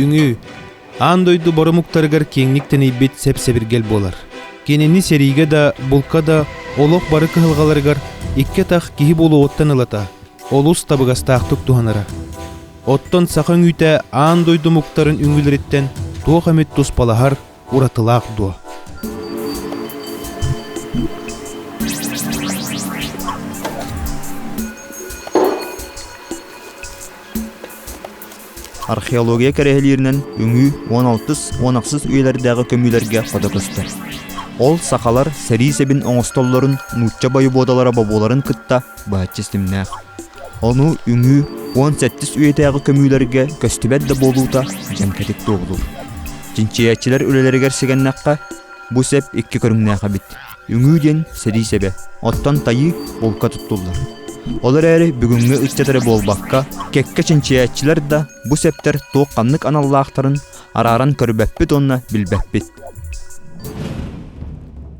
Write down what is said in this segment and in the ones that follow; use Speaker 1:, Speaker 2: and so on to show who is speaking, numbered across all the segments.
Speaker 1: Үҥүү аан дойду боромуктарыгар киэҥник тэнийбит сэп-сэбиргэл буолар. Кинини сэриигэ да, булка да олох бары кыһалҕаларыгар икки атах киһи буолуоттан ылата олус табыгастаахтык туһанара. Оттон саха өҥүүтэ аан дойду омуктарын үҥүүлэриттэн туох эмит туспалаһар уратылаах дуо? Археология кэрэһилииринэн үҥүү 16-10 үйэлэрдээҕи көмүүлэргэ хото көстөр. Ол сахалар сэрии сэбин оҥостоллорун нуучча бойобуодалара бобууларын кытта быһаччы ситимнээх. Ону үҥүү уон сэттис үйэтээҕи көмүүлэргэ көстүбэт да буолуута дьэмкэтик туоһулуур. Чинчийээччилэр үлэлэригэр сигэннэххэ, бу сэп икки көрүҥнээх эбит. Үҥүү диэн сэрии сэбэ, оттон тайыы булка туттуллар. Ол эрээри бүгүҥҥү ыччат эрэ буолбакка, кэккэ чинчийээччилэр да бу сэптэр туох ханнык аналлаахтарын, арааран көрбөппүт уонна билбэппит.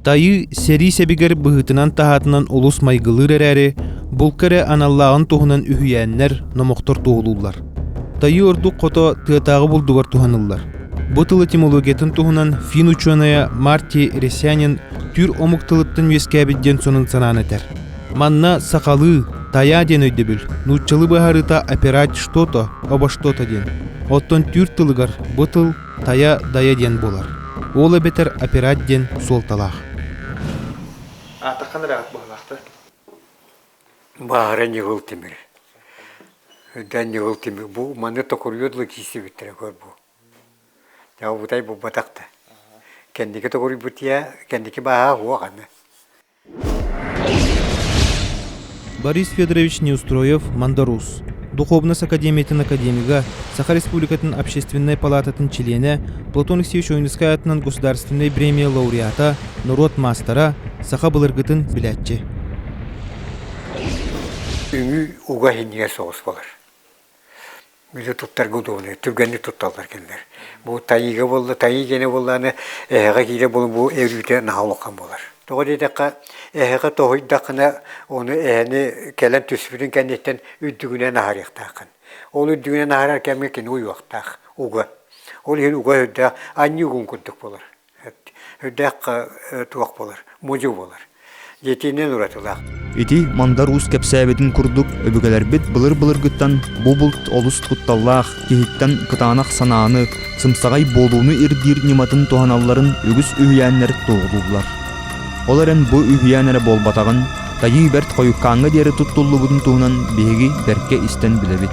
Speaker 1: Тайыы сэрии сэбигэр быһыытынан таһаатынан олус майгылыыр эрээри, булка эрэ аналлааҕын туһунан үһүйээннэр, номохтор туоһулууллар. Тайыы ордук хото тыатааҕы булдугар туһаныллар. Бу тыл этимологиятын туһунан фин учуонайа Марти Ресянин түүр омук тылыттан үөскээбит диэн сонун санаан этэр. Манна сахалыы «тайа» диэн өйдөбүл, нууччалыы быһаарыыта «опирать что-то» обо что-то диэн. Оттон түүр тылыгар бу тыл «тайа» «дайа» диэн буолар. Ол эбэтэр «опирать» диэн суолталаах. Аатахан ыраҕат буолаахта. Баара Ньыгыл Тимир. Дан Ньыгыл Тимир. Бу маны токуруйуод лучисибиттэрэ көр бу. Дьау бутай бу батахта. Кендики токуруйбутия, кендики бааха хуах аны. Борис Федорович Неустроев, Мандарус духуобунас академиятын академига, Саха Республикатын Общественнай палаататын чилиэнэ, Платон Алексеевич Ойуунускай аатынан государственнай бремия лауреата, норуот маастара, саха былыргытын билээччи. Үҥүү уга иһиннигэр соҕус болар. Бүлүү туттарга удобно. Түргэнник тутталлар кинилэр. Бу тайыыга буолла, тайыы киэнэ буоллаҕына, эһэҕэ киирэ буолуо, бу өрүүтэ наһаа улахан буолар. Тоҕо диэтэххэ, эһэҕэ тоһуйдаххына, оны эһэни кэлэн түспүтүн кэнниттэн үрдүгүнэн аһарыахтааххын. Ол үрдүгүнэн аһарар кэмҥэ кини уйуохтаах, уга. Ол иһин уга үрдээх анньыы угун курдук буолар. Үрдээх туох буолар, мудьу буолар. Дьиэтинэн уратылаах. Ити Мандар Уус кэпсээбитин курдук өбүгэлэрбит былыр-былыргыттан бу булт олус кутталлаах, киһиттэн кытаанах санааны, сымсаҕай буолууну ирдиир ньыматын туһаналларын үгүс үһүйээннэр туоһулууллар. Ол эрэн бу үһүйээн эрэ буолбатаҕын, Тайыы Бэрт хойуккааҥҥа диэри туттуллубутун туһунан биһиги бэркэ истэн билэбит.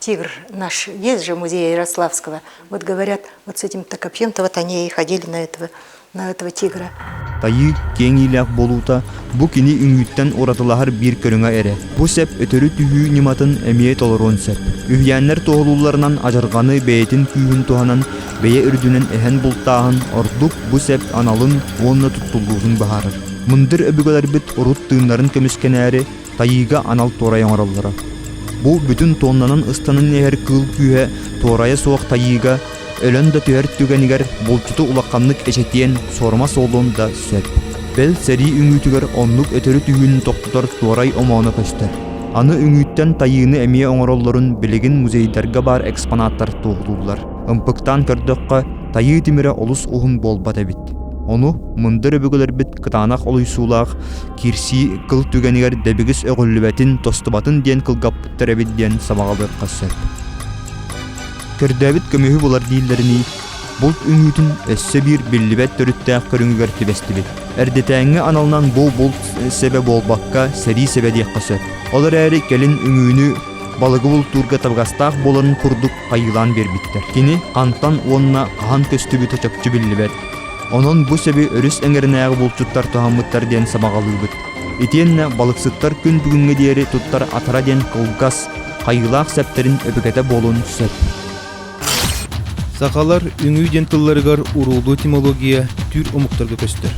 Speaker 1: тигр наш есть же музей Ярославского. Вот говорят, вот с этим Токопьентово они и ходили на этого, на этого тигра. Тайыы киэҥиилээх болуута бу кини үҥүүттэн уратылаһар биир көрүҥэ эрэ. Бу сэп өтөрү түһүү ньыматын эмиэ толоруон сөп. Үһүйээннэр туоһулуулларынан адьырҕаны бэйэтин күүһүн туһанан, бэйэ үрдүнэн эһэн бултааһын ордук бу сэп аналын уонна туттуллуутун быһаарар. Мындыр өбүгэлэрбит урут тыыннарын көмүскэнээри тайыыга анал туорай оҥороллоро. Бу бүтүн туоннанан ыстанан иһэр кыыл күүһэ туорайа суох тайыыга өлөн да түһэр түгэнигэр булчуту улаханнык эчэтиэн суорума суолун да сөп. Бэл сэрии үҥүүтүгэр оннук өтөрү түһүүнү тохтотор туорай омооно көстөр. Аны үҥүүттэн тайыыны эмиэ оҥороллорун билигин музейдарга баар экспонаттар туоһулууллар. Ымпыктаан көрдөххө, тайыы тимирэ олус уһун буолбат эбит. Ону мындыр өбүгэлэрбит кытаанах олуйсуулаах киирсии кыл түгэнигэр дэбигис өҕүллүбэтин тостубатын диэн кылгаппыттар эбит диэн сабаҕалыахха сөп көрдөөбүт көмүһү булар дииллэринии булт үҥүүтүн өссө биир биллибэт төрүттээх көрүҥүгэр түбэстибит эрдэтээҥҥи аналынан бу булт сэбэ буолбакка сэрии сэбэ диэххэ сөп ол эрээри кэлин үҥүүнү балыгы бултуурга табыгастаах буоларын курдук хайыылаан биэрбиттэр кини хантан уонна хаһан көстүбүтэ чопчу биллибэт Онон бу сэби өрүс эҥэринээҕи булчуттар тоһоммуттар диэн сабаҕалыыбыт. Итиэннэ балыксыттар күн бүгүҥҥэ диэри туттар атара диэн кылгас, хайыылаах сэптэрин өбүгэтэ буолуон сөп. Сахалар үҥүү диэн тылларыгар уруулуу этимология түүр омуктарга көстөр.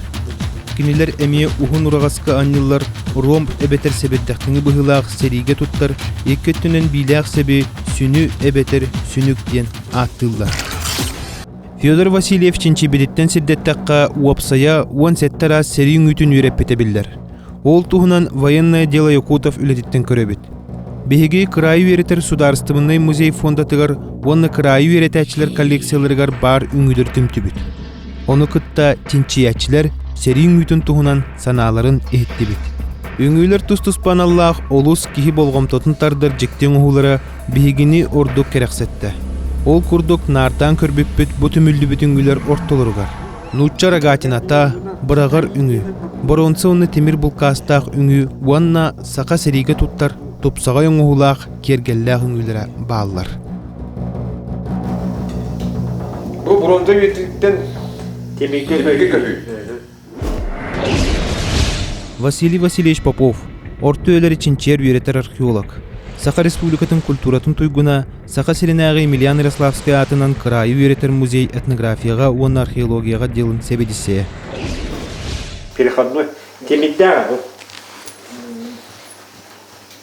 Speaker 1: Кинилэр эмиэ уһун ураҕаска анньыллар ромб эбэтэр сэбирдэхтиҥи быһыылаах сэриигэ туттар икки өттүнэн биилээх сэби сүнү эбэтэр сүнүк диэн ааттыыллар. Федор Васильев чинчийбититтэн сирдэттэххэ, уопсайа уон сэттэ араас сэрии үҥүүтүн үөрэппитэ биллэр. Ол туһунан «Военное дело Якутов» үлэтиттэн көрөбүт. Биһиги кыраайы үөрэтэр судаарыстыбыннай музей фондатыгар уонна кыраайы үөрэтээччилэр коллекцияларыгар баар үҥүүлэри түмтүбүт. Ону кытта чинчийээччилэр сэрии үҥүүтүн туһунан санааларын иһиттибит. Үҥүүлэр тус-туспа аналлаах олус киһи болҕомтотун тардар дьикти оҥоһуулара Биһигини ордук кэрэхсэттэ. Ол курдук наардаан көрбүппүт бу түмүллүбүт үҥүүлэр ортолоругар нуучча рогатината, быраҕар үҥүү, боруонса уонна тимир булкаастаах үҥүү уонна саха сэриигэ туттар тупсаҕай оҥоһуулаах киэргэллээх үҥүүлэрэ бааллар. Бу боруонса үйэтиттэн тимиргэ көтүү. Василий Васильевич Попов, орто үлэри чинчийэр үөрэтэр археолог, Саха Республикатын культуратын туйгуна, Саха сиринээҕи Емельян Ярославскай аатынан кыраайы үөрэтэр музей этнографияҕа уонна археологияҕа диэлин сэбэдиссэйэ. Переходной. Темик да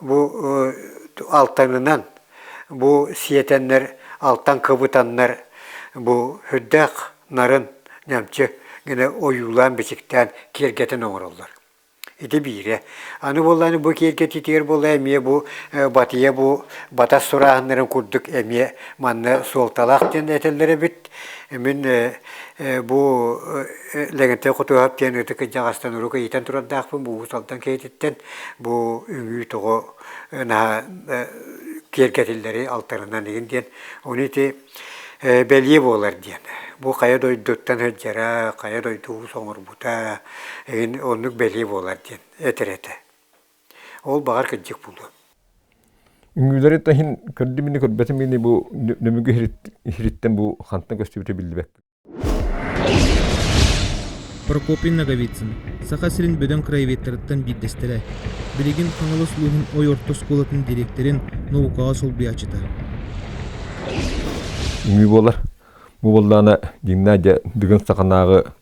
Speaker 1: Бу алтанынан бу сиэтэннэр алтан кыбытаннар бу үрдээх нарын ньамчы гына ойуулаан-бичиктээн киэргэтэн оҥороллор. Ити биирэ. Аны буоллаан бу киэргэтиитигэр буолла эмиэ бу батыйа бу батас сурааһыннарын курдук эмиэ манна суолталаах диэн этэллэр эбит. Мин бу Лэгэнтэй Хотуоһап диэн ытык кырдьаҕастан урук ыйытан турардаахпын Бугуус Алдан киһититтэн бу үҥүү тоҕо наһаа киэргэтиллэри алтарынан игин диэн ону ити бэлиэ буолар диэн бу хайа дойдуттан сылдьара хайа дойду уус оҥорбута игин оннук бэлиэ буолар диэн этэр этэ ол баҕар кырдьык буолуо үҥүүлэри таһин көрдүм инни көрбөтүм ини бу нөмүгү хириттэн бу хантан көстүбүтэ биллибэппин Прокопий Ноговицын, Саха сирин бөдөҥ краеведтарыттан биирдэстэрэ, билигин Хаҥалас улууһун Ой орто оскуолатын дириэктэрин наукаҕа солбуйааччыта. Үҥүү буолар. Бу буоллаҕына Гимназия Дыгын Саханааҕы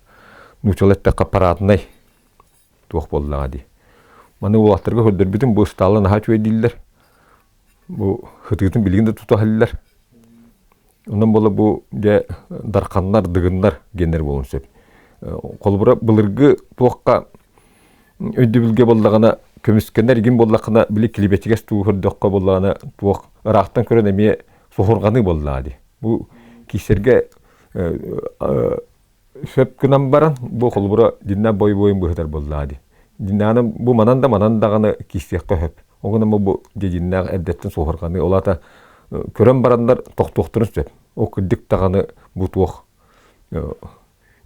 Speaker 1: нууччалар эттэххэ параднай туох буоллаҕа дии. Маны уолаттарга көрдөрбүтүм, бу ыстаалла наһаа үчүгэй дииллэр. Бу хытыытын билигин да тута иһэллэр. Онон буола бу дьэ дарханнар, дыгыннар геннэр буолун сөп. Холобура былыргы туохха өйдөбүлгэ боллаҕына көмүскэнэр игин боллахына били клибетигес туухырдыахха боллаҕына туох ыраахтан көрөн эмиэ соһурҕаныы боллаҕа дии. Бу киисэргэ сөп гынан баран бу холобура динна бой-буойун быһытар буоллаа ди диннааны бу манан да манан даҕаны киисиэххэ сөп ол гынан бу дединнээх эрдэттэн суохарҕаны олаата көрөн бараннар тохтуохтарын сөп ол кырдык даҕаны бу туох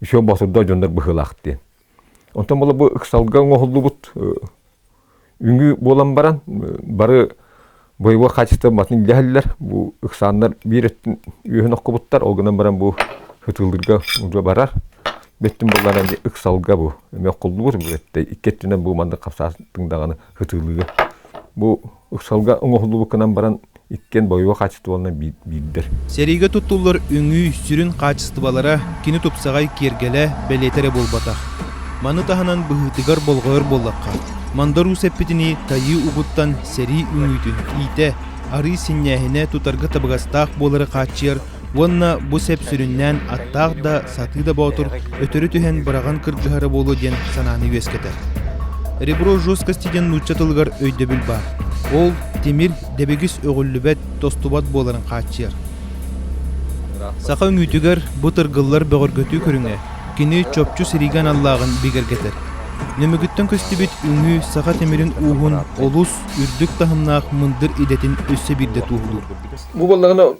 Speaker 1: еще босурда дьоннор быһыылаах диэн Онтон бола бу ыксалга оҥоһуллубут үҥүү буолан баран бары боевой качество батын илдьэһэллэр. Бу ыксааннар биир өттүн үөһүн охкубуттар, ол гынан баран бу ытыылыырга уже барар. Бэттин булларан дьэ ыксалга бу эмиэ охкуллубут, бу этэ икки өттүнэн бу маннык хапсаастыҥ даҕаны ытыылыыр. Бу Ыксалга оҥоһуллубуккунан баран иккиэн бойуо хаачыстыбаларынан биирдэр. Сэриигэ туттуллар үҥүү сүрүн хаачыстыбалара кини тупсаҕай киэргэлэ бэлиэтэ эрэ буолбатах. Маны таһынан быһыытыгар болҕойор буоллахха, мандарус эппитинии тайыы угуттан сэрии үҥүүтүн иитэ, арыый синньээһинэ тутарга табыгастаах буолары хааччыйар уонна бу сэп сүрүннээн аттаах да, сатыы да боотур өтөрү түһэн быраҕан кырдьыһара буолуо диэн санааны үөскэтэр. Ребро жесткости диэн нуучча тылыгар өйдөбүл баар. Ол тимир дэбигис өҕүллүбэт, тостубат буоларын хааччыйар. Саха үҥүүтүгэр бу тыргыллар бөҕөргөтүү көрүҥэ кини чопчу сиригэ аналлааҕын бигэргэтэр. Нөмүгүттэн көстүбүт үҥүү саха тимирин ууһун олус үрдүк таһымнаах мындыр идэтин өссө биирдэ туоһулуур. Бу буоллаҕына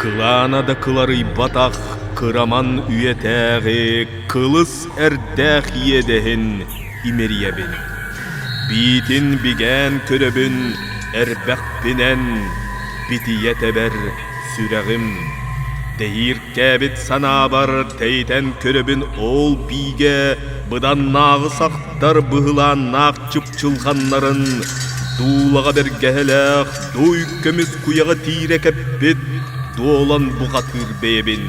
Speaker 1: Кылаана да кыларыйбатах кыраман үйэтээҕи кылыс эрдээх иэдэһин имэрийэбин. Биитин бигээн көрөбүн эрбэхпинэн битийэ тэбэр сүрэҕим. Тэһииркээбит санаабар тэйитэн көрөбүн ол биигэ быданнааҕысахтар быһылааннаах чупчулҕаннарын дуулаҕа бэргэһэлээх Туй көмүс куйаҕы тиирэ кэппит дуолан бухатыыр бэйэбин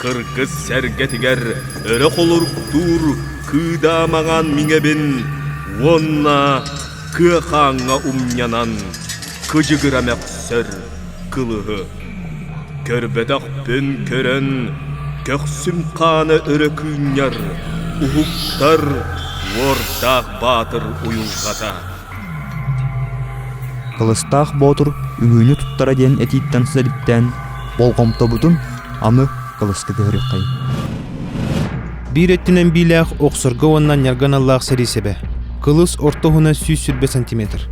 Speaker 1: кыргыс сэргэтигэр өрө холоруктуур кыыдаамаҕан миҥэбин уонна кыахааҥҥа умньанан кыдьыгыра мөхсөр кылыһы көрбөтөхпүн көрөн көхсүм хаана өрө кыынньар уһуктар уордаах баатыр уйулҕата Кылыстаах Боотур үһүүнү туттара диэн этииттэн сэдиптээн болҕомтобутун аны Кылыска көһөрүөххэй. Биир өттүнэн биилээх охсорго уонна ньарган аллаах сэрии-сэбэ. Кылыс орто уһуна сүүс сүүрбэ сантиметр.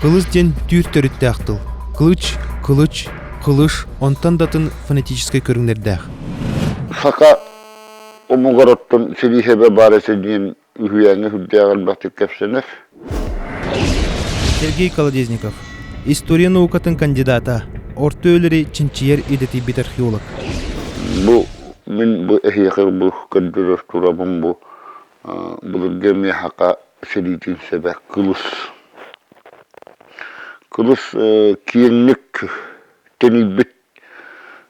Speaker 1: Кылыс диэн түүр төрүттээх тыл. Кылыч, кылыч, кылыш, онтон датын фонетическай көрүҥнэрдээх. Саха омугар оттон сирии-сэбэ баара син үһүйээҥҥэ үрдээх элбэхтик кэпсэнэр. Сергей Колодезников, история наукатын кандидата, орто өлөрү чинчийэр идэтийбит археолог. Бу мин бу эһиэхи бу көрдөрөр турабын бу былыргы миэхака сэриитин сэбэ кылыс кылыс киэҥник тэнийбит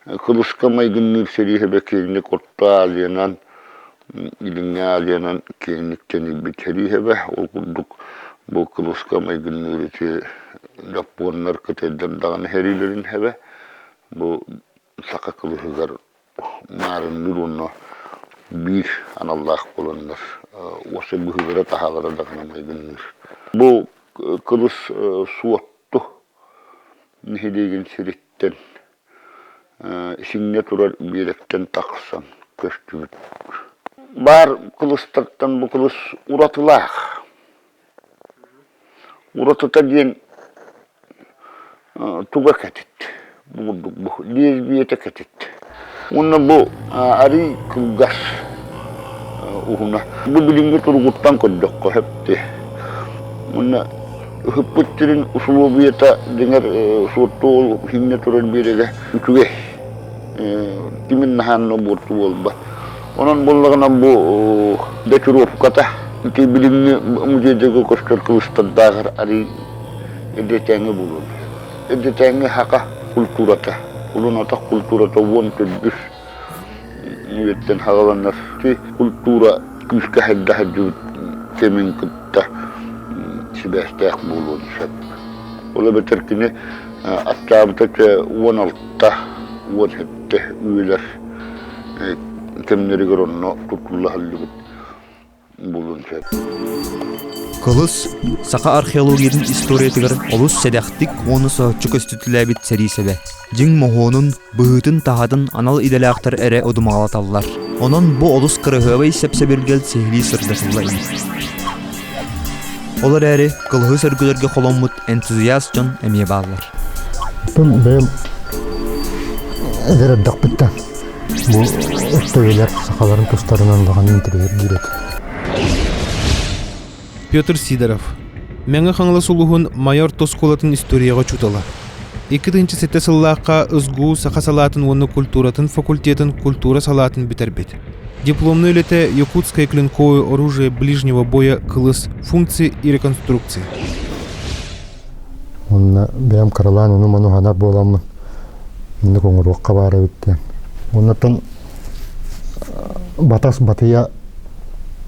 Speaker 1: Кыбыска майгынныыр сэлииһэ бэкиэнньик орто аалиянан, илиҥҥи аалиянан киэҥник сэлииһэбэ. Ол курдук бу кыбыска майгынныыр ити дьоппуоннар кытайдар даҕаны сэриилэрин иһэбэ. Бу саха кыбыһыгар маарынныыр уонна биир аналлаах буоланнар уоса быһыылара-таһаалара даҕаны майгынныыр. Бу кыбыс суотту нэһилиэгин сириттэн исиҥҥэ турар миэрэттэн тахсан көстүбүт. Баар кылыстартан бу кылыс уратылаах. Уратыта диэн туга кэтит. муҥурдукбут диэс биэтэ кэтит уонна бу арый кылгас уһуна бу билиҥҥи туругуттан көрдөххө сөпті уонна ыһыппыт сирин усулуобуйата дьиҥэр суоттуол иһиннэ турар биэрэгэ үчүгэй кимин наһаанна буорту буолбат онон буоллаҕына бу датировката ити билиҥҥи музейдарга көстөр кылыстардааҕар арый эдэтээҥи буолуо Эрдэтээҥҥи саха культурата, улун-атах культурата уон төрдүс үйэттэн саҕаланар. Культура күүскэ хайда сылдьыбыт кэмин кытта сибээстээх буолуон сөп. Ол эбэтэр кини аттаабыта уон алта, уон сэттэ үйэлэр кэмнэригэр онно тутуллаһыллыбыт. булун сөп. Кылыс саха археологиятын историятыгар олус сэдэхтик уонна соһуччу көстүтүлээбит сэриисэбэ. Дьиҥ моһуонун, быһыытын таһатын анал идэлээхтэр эрэ одумаҕалаталлар. Онон бу олус кыраһыабай сэпсэбиргэл сиһилии сырдатылла ини. Ол эрээри кылыһы сөргүлэргэ холоммут энтузиаст дьон эмиэ бааллар Тын бэйэм эдэр эрдэхпиттэн бу өттөбүлэр сахаларын тустарынан улахан интэриэһиргиир этэ Петр Сидоров Мэҥэ Хаҥалас улуһун майор тоскуолатын историяҕа учуутала Икки тыһыынча сэттэ сыллаахха СГУ саха салаатын уонна культуратын факультетын культура салаатын бүтэрбит дипломные үлэтэ якутское клинковое оружие ближнего боя кылыс функции и реконструкции Уонна бэйэм кыралаан ону-маны ханар буоламмын инник оҥоруохха баара эбиттэн. Уоннатан батас батыя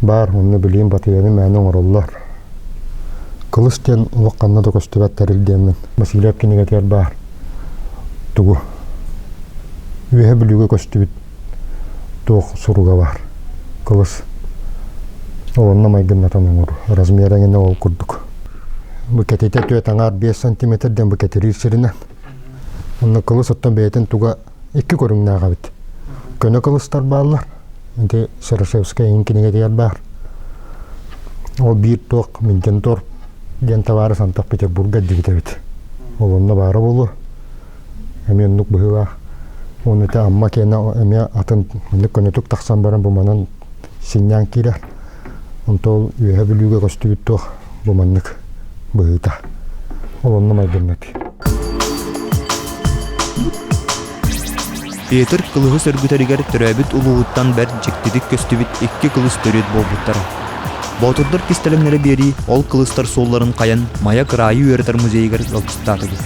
Speaker 1: баар онно билиим батыйаны мээнэ оҥороллор. Кылыс диэн олох ханна да көстүбэт тэрилдиэммин Василиев кинигэтигэр баар тугу үөһэ бүлүүгэ көстүбүт туох суруга баар кылыс олонно майгыннатан оҥору размера эҥинэ ол курдук букетите түөрт аҥаар биэс сантиметр диэн букетириир сиринэн онно кылыс оттон бэйэтин туга икки көрүҥнээх эбит көнө кылыстар бааллар ити серошевская иһин кинигэтигэр баар ол биир туох минтентор диэн табаары сантах петербурга дибит эбит олонно баара буолуо эмиэ оннук быһыылаах уонна ити Амма киэнэ эмиэ атын маннык көнөтүк тахсан баран бу манан синньээн киирэр онтон Үөһэ Бүлүүгэ көстүбүт туох бу маннык быһыыта ол онно майгынныт Петр кылыһы сөргүтэригэр төрөөбүт улууһуттан бэрт дьиктитик көстүбүт икки кылыс төрүт буолбуттара. Боотурдар кистэлэҥнэрэ биэрии ол кылыстар суолларын хайан Майа кыраайы үөрэтэр музейыгар ыалдьыстаатыбыт.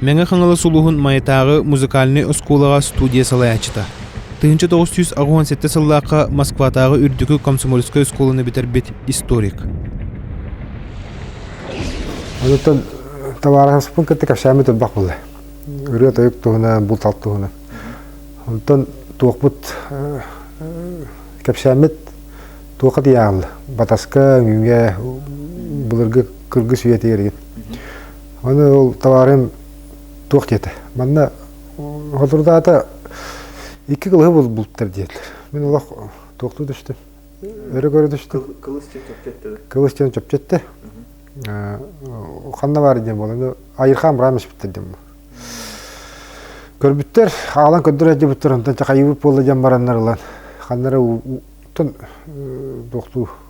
Speaker 1: Мэҥэ-Хаҥалас улууһун Майатааҕы музыкальнай оскуолаҕа студия салайааччыта. Тыһыынча тоҕус сүүс аҕыс уон сэттэ сыллаахха Москватааҕы үрдүкү комсомольскай оскуоланы бүтэрбит историк. Онтон табаарыспын кытта кэпсээммит элбэх буолла. Ырыа-тойук туһунан, булт-алт туһунан. Онтон туохпут кэпсээммит туохха тиийаҕыл? Батаска, үҥүүгэ, былыргы кыргыс үйэ тиэригин. Аны ол табаарым туох диэтэ. Манна Ходурдаата икки кылыһы булбуттар диэтилэр. Мин олох туохтуу түстүм. Өрө көрө түстүм. Кылыс диэн чөпчөттө. Ханна баар диэн буолан, айырхаан быраамыш бүттэр диэн буол. Көрбүттэр, аалан көрдөрө дьыбыттар, онтон чахайыбыт буолла диэн бараннар ылан, ханнара уттан туохтуу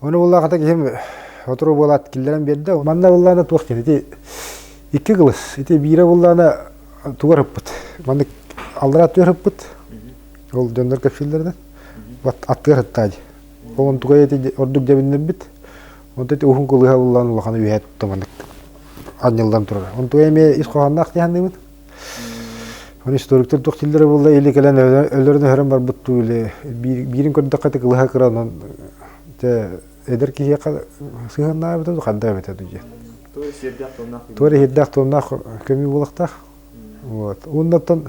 Speaker 1: Оны буллаахата киһим отуру буолаат киллэрэн биэрдэ. Манна буллаана туох диэн ити икки кылыс. Ити биирэ буллаана тугар ыппыт. Маннык аллара аттыгар ыппыт. Ол дьоннор кэпсииллэринэн. Аттыгар ыттаа дии. Ол тугай ити ордук дьэбиннэрбит. Онто ити уһун кылыһа буллаан улахан үөһэ тутта маннык анньыллан турар. Онтуга эмиэ ис хоһоонноох дии саныыбын. Историктар туох тиллэрэ буолла или кэлэн өлөрөн өһөрөн барбыт туу иле биирин көрдөххө ты кылыха кыра онон те эдер киһиэхэ сыһыаннаабыта ханда эбэтэ дүйе туора иһирдээх туомнаах көмүү болахтаах вот ууннаттан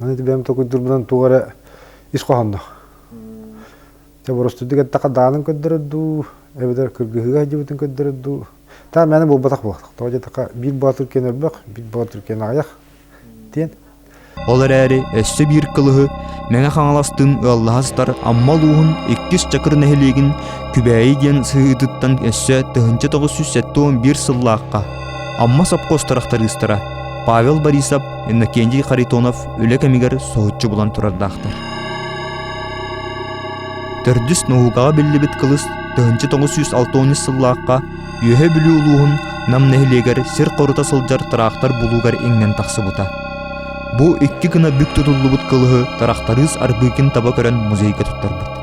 Speaker 1: Аны бэйэм токуйдурбутан тугу эрэ ис хоһоонноох. Дьэ боростуйдук эттэххэ даанын көрдөрөр дуу, эбэтэр кыргыһыыга сылдьыбытын көрдөрөр дуу. Та мээнэ буолбатах буолбатах. Тоҕо диэтххэ биир Боотур киэн өрбөх, биир Боотур киэн аҕыйах диэн Ол эрээри өссө биир кылыһы Мэҥэ Хаҥаластын ыаллаһа сытар Амма улууһун иккис Чакыр нэһилиэгин Күбээйи диэн сыһыытыттан өссө тыһыынча тоҕус сүүс сэттэ уон биир сыллаахха Амма сопхуос тырахтарыыстара Павел Борисов Иннокентий Харитонов үлэ кэмигэр соһуччу булан турардаахтар. Төрдүс наукаҕа биллибит кылыс 1906 сыллаахха Үөһэ Бүлүү улууһун Нам нэһилиэгэр сир хорута сылдьар тыраахтар булуугар иҥнэн тахсыбыта. Бу икки гына бүк тутуллубут кылыһы тырахтарыыс Арбыыкин таба көрөн музейга туттарбыт.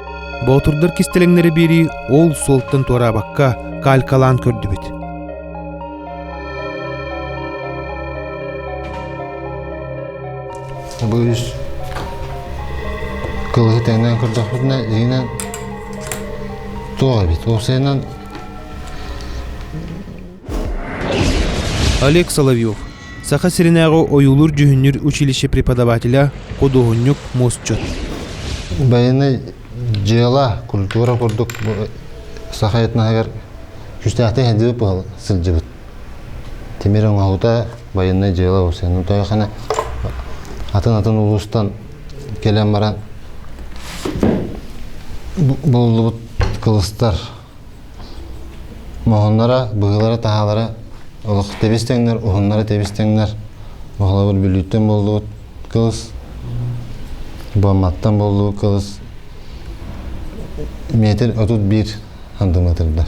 Speaker 1: боотурдар кистэлэҥнэрэ биэрии ол суолтан туораабакка калькалаан көрдүбүт бу үс кылыһы тэҥнээн көрдөхпүтүнэ дигинэн туох эбит ол сиэнэн Олег Соловьев, Саха сиринээҕи ойуулуур-дьүһүннүүр училище преподавателэ, худуоһунньук, мусчут. Байанай дьыала, культура курдук саха этноһыгар күүстээхтик сылдьыбыт сылдьыбыт. Тимир оҥоһуута байанай дьыала бусeenын тойохана атын-атын улуустан кэлэн баран буллубут кылыстар Моһуннара, быһыылара-таһаалара олох тэбис тэҥнэр, уһуннара тэбис тэҥнэр. Оҕолорбут Бүлүүттэн буоллубут кылыс, Бомматтан буоллубут кылыс метр отут биир андыҥытырдар.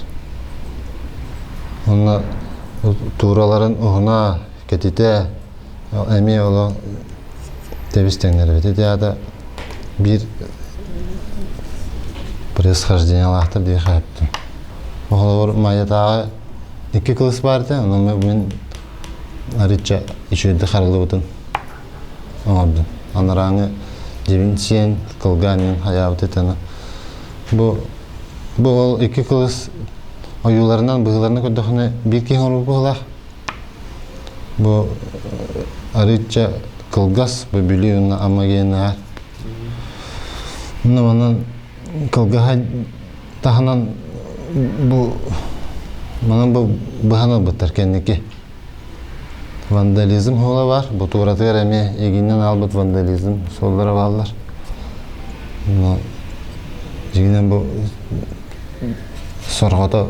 Speaker 1: Онно туураларын уһуна, кэтитэ, Эмиэ олох тэбис тэҥнэрбитэ да биир происхождениялаахтар диэхээбитим. Холобур, Майатааҕы икки кылыс баар этэ, ону мин арыычча үчүгэйдик харыллыбытын оҥордум. Анарааҥы дьиэбин сиэн, кылгаан иһэн хайаабыт этэ. Бу бу ол икки кылыс ойууларынан, быһыыларынан көрдөххүнэ биир киһи оҥорбут быһыылаах. Бу арыычча кылгас бөбүлүй уонна ама гиэн аһар. Онно манан кылгаһа таһынан бу манан бу быһан ылбыттар кэнники. Вандализм уола бар. Бу туоратыгар эмиэ игиннен аалбыт вандализм суоллара бааллар. Но дьигинен бу сорҕото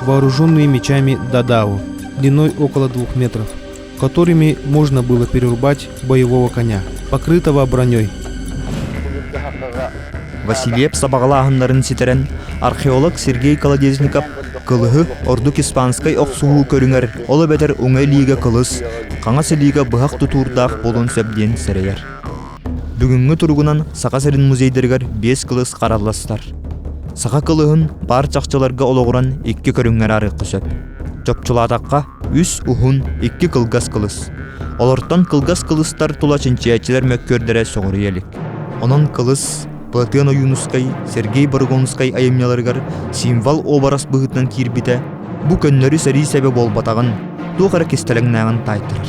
Speaker 1: вооруженные мечами Дадау длиной около двух метров, которыми можно было перерубать боевого коня, покрытого броней. Васильев сабаҕалааһыннарын ситэрэн, археолог Сергей Колодезников кылыһы ордук испанскай охсуһуу көрүҥэр ол эбэтэр уҥа илиигэ кылыс, хаҥас илиигэ быһах тутуурдаах буолуон сөп диэн сэрэйэр. Бүгүҥҥү туругунан Саха сирин музейдарыгар биэс кылыс харалластар. Саха кылыһын паар чахчыларга олоҕуран икки көрүҥҥэр арыахха сөп. Чопчулаатахха, үс уһун, икки кылгас кылыс. Олортон кылгас кылыстар тула чинчийээччилэр мөккүөрдэрэ сөҕүрүйэ илик. Онон кылыс Платен Ойуунускай, Сергей Баргонскай айымньыларыгар символ уобарас быһыытынан киирбитэ бу көннөрү сэрии сэбэ буолбатаҕын, туох эрэ кистэлэҥнээҕин таайтарар.